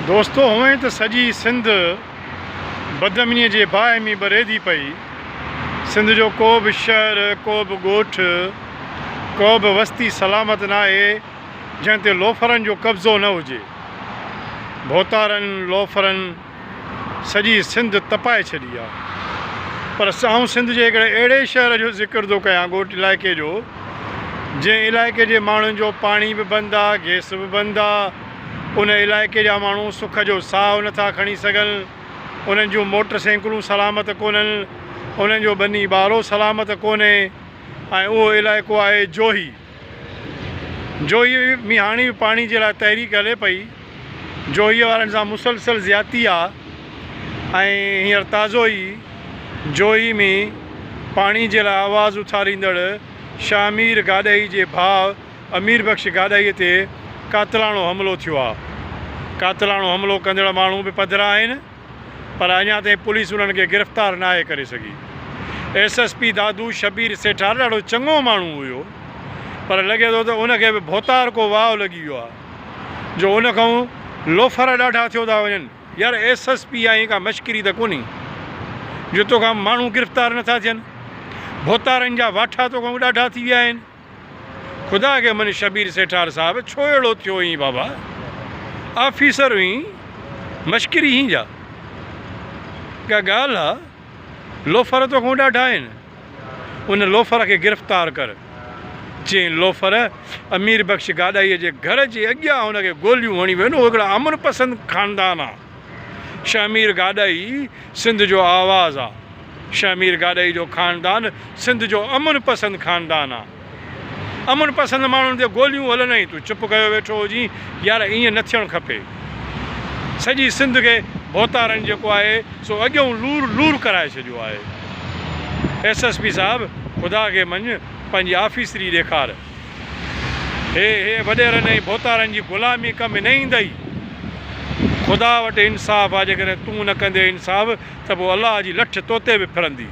دوستو هونئن ته سڄي سنڌ بدامنيء جي باهه ۾ ٻريدي پئي. سنڌ جو ڪو به شهر، ڪو به ڳوٺ، ڪا به وستي سلامت ناهي جنهن تي لوفرن جو قبضو نه هجي. ڀوتارن، لوفرن سڄي سنڌ تپائي ڇڏي آ. پر آئون سنڌ جي هڪڙي اهڙي شهر جو ذڪر ٿو ڪيان ڳوٺ علائقي جو جنهن علائقي جي ماڻهن جو پاڻي به بند آ، گئس به بند آ، ان علائقي جا ماڻهو سک جو ساهه نٿا کڻي سگهن، انهن جون موٽر سينڪلون سلامت ڪونهن، انهن جو ٻني ٻارو سلامت ڪونهي ۽ اهو علائقو آهي جوهي. جوهي ۾ هاڻي به پاڻي جي لاء تحريڪ هلي پئي. جوهي وارن سان مسلسل زيادتي آهي ۽ هينئر تازو ئي جوهي ۾ پاڻي جي لاء آواز اٿاريندڙ شاهمير گاڏهي جي ڀاء، امير بخش گاڏهيء تي قاتلاڻو حملو ٿيو آهي، قاتلاڻو حملو ڪندڙ ماڻهو به پڌرا آهن پر اڃا تائين پوليس انهن کي گرفتار ناهي ڪري سگهي، S S P Dadu Shabbir Sethar ڏاڍو چڱو ماڻهو هيو پر لڳي ٿو ته ان کي به ڀوتار ڪو واء لڳي ويو آهي جو ان کانئون لوفر ڏاڍا ٿيو ٿا وڃن. يار ايس ايس پي آهين ڪا مشڪري ته ڪونهي جو توکان ماڻهو گرفتار نٿا ٿين، ڀوتارن جا واٺا توکانئون ڏاڍا ٿي ويا آهن. خدا کي من شبير سيٺار صاحب ڇو اهڙو ٿيو هئين بابا آفيسر هئين مشڪري هين جا ڪا ڳالهه آ لوفر توکون ڏاڍا آهن ان لوفر کي گرفتار ڪر جنهن لوفر امير بخش گاڏاهي جي گهر جي اڳيان هن کي گوليون هڻي ويون هو هڪڙا امن پسند خاندان آ. شهمير گاڏهي سنڌ جو آواز آ. شهمير گاڏهي جو خاندان سنڌ جو امن پسند خاندان آ. امن پسند ماڻهن تي گوليون هلن ۽ تون چپ ڪيو ويٺو هجين. يار ائين نه ٿيڻ کپي. سڄي سنڌ کي ڀوتارن جيڪو آهي سو اڳيئون لور لور ڪرائي ڇڏيو آهي. ايس ايس پي صاحب خدا کي مڃ پنهنجي آفيسري ڏيکار. هي هي وڏيرن ۽ ڀوتارن جي غلامي ڪم نه ايندئي. خدا وٽ انصاف آ جيڪڏهن تون نه ڪندين انصاف ته پوء الله جي لٺ تو تي به ڦرندي.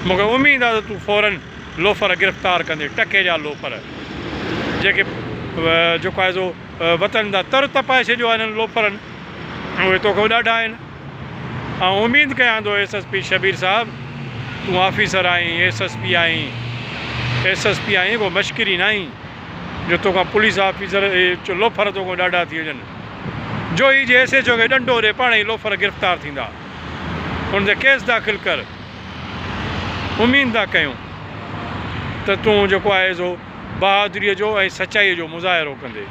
مون کي اميد آ ته تون فورن لوفر گرفتار ڪندين ٽڪي جا لوفر جيڪي جيڪو آهي سو وطن تان تر تپائي ڇڏيو آ هنن لوفرن اهي توکان ڏاڍا آهن. آئون اميد ڪيان ٿو ايس ايس پي شبير صاحب تون آفيسر آهين ايس ايس پي آهين ايس ايس پي آهين ڪو مشڪري ناهين جو توکان پوليس آفيسر جو لوفر توکان ڏاڍا ٿي وڃن جو هي جي ايس ايچ او کي ڏنڊو ڏي پاڻ هي لوفر گرفتار ٿيندا ان تي ڪيس داخل ڪر اميد ٿا ڪيون ته تون جيڪو آهي سو بهادري جو ۽ سچائي جو مظاهرو ڪندي.